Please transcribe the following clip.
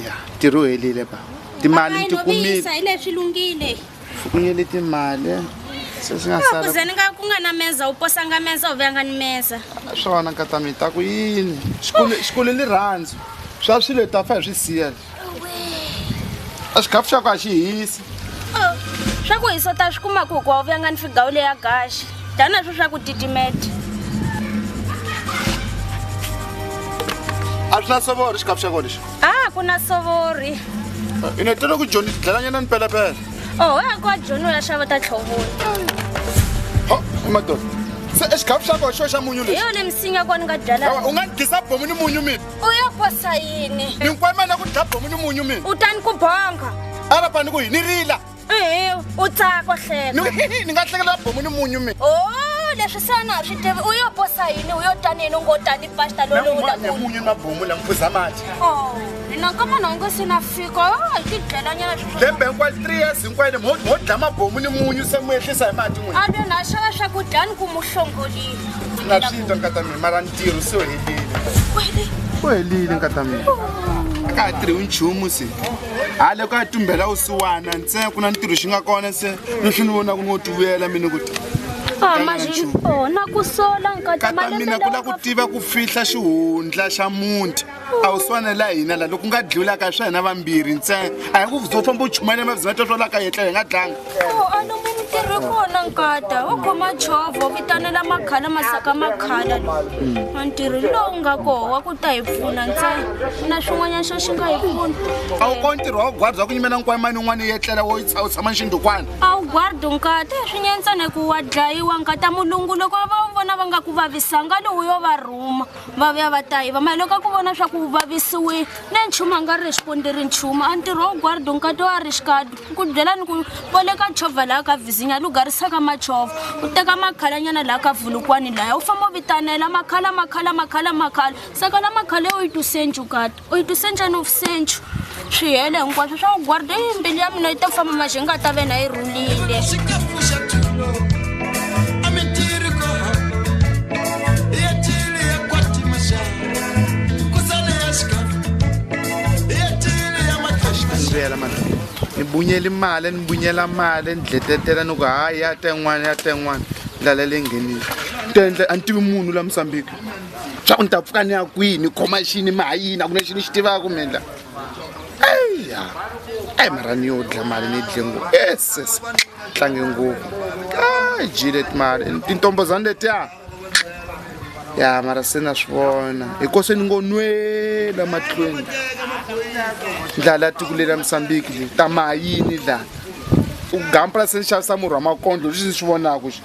ya ntirho helile ba timali ni ti kumile hi leswi lunghile fukunyele timali sesingakuse ni nga ku nga na meza u posanga meza u vuyanga ni meza swona nkata mi ta ku yini xikulu ni rhandzu swa swilo hi ta fa hi swi siya a xikhafu xa ku a xi hisi oh, swa ku hisa u ta swi kumaku hikuva u vuyanga ni figawu leya gaxi tana swo swa ku titimeta a swi na sovori xikapu xa kona lexi a ah, ku na sovori eh, i ne tele ku joni tidlalanyana ni pelepele oho ya ku wa joni u ya xava ta tlhovoni ho madoda se exikapu xa kona xo xa munyu lexi yo le misinya kuwa ni nga byala u nga ni gisa bomu ni munyu mina u ya kosa yini ni nkwemana ku dya bomu ni munyu mina u tani ku bonga a rapani ku hi ni rila ehe u tsaka hleka ni ni nga hlekela bomu ni munyu mi o leswi se na ha swi tivi u yo posa yini u yo tani yini u ngo tani pasta lolola munyu na bomu la miphuza mati o naka munhu a nge se na fika hi ti dlelanyana lembe hinkwayo three years hinkwayo mo dla mabomu ni munyu se mu ehlisa hi mati n'wini a lo na xava swakudya ni ku mu hlongolile na swi twa nkata mina mara ntirho se u helile u helile nkata mina a ka ha tirhi nchumu se hayi loko a tumbela usiwana ntsena ku na ntirho xi nga kona se leswi ni vonaka ni wo tivuyela mina ku Ah, mas oh, na ku sola nkata mina ku la ku tiva ku fihla xihundla xa munti a wu swana la hina la loko nga dlulaka swa hina vambirhi ntsena a hi ku zo famba u chumayela mavizimata swalaka yetla hi nga dlanga nkata wo khoma chovho vitanela makhala masaka makhala a ntirho lowu nga koho wa ku ta hi pfuna ntsena na swin'wanyana xo xi nga hi pfuna a wu ko ntirho wa gwardza ku nyimela nkwayi mani un'wana yi etlela wo u tshama nxindukwana a wu gwardi nkata hi swi nyentsana hi ku wa dlayiwa nkata mulungu loko va wu vona va nga ku vavisanga lowu yo va rhuma va vuya va ta yiva mara loko a ku vona swa ku u vavisiwile ne nchumu a nga ri xipondi ri nchumu a ntirho wa guardo nkati wa ri xikadu ku byela ni ku vo le ka chovha laha ka vizinya lu garisaka machovha u teka makhalanyana laha ka vulukwani laya u famba u vitanela makhala makhala makhala makhala saka la makhala yo yi tusenju kati u yi twise njhani vusentshu swi hele hinkwaswo swa n'wi gwarda yi mbilu ya mina yi ta famba maxi yi nga ta vena yi rhulile ndlela mani ni bunyela imali ni bunyela mali ni dletetela ni ku hayi ya ten'wana ya ten'wana ndlela leyi nghenile tendle a ni tivi munhu la mosambiki swa ku ni ta pfuka ni ya kwihi ni khoma xini mi ha yini a ku na xi ni xi tivaka mi endla eya eyi mara ni yo dla mali ni dle ngopfu eses tlange ngopfu a jile timali tintombozani letiya ya mara se na swi vona hiko se ni ngo nwela mahlweni ndlala tiko le la mosambiki le ta mayini la u gampula se ni xavisa murhi wa makondlo leswi ni swi vonaka xi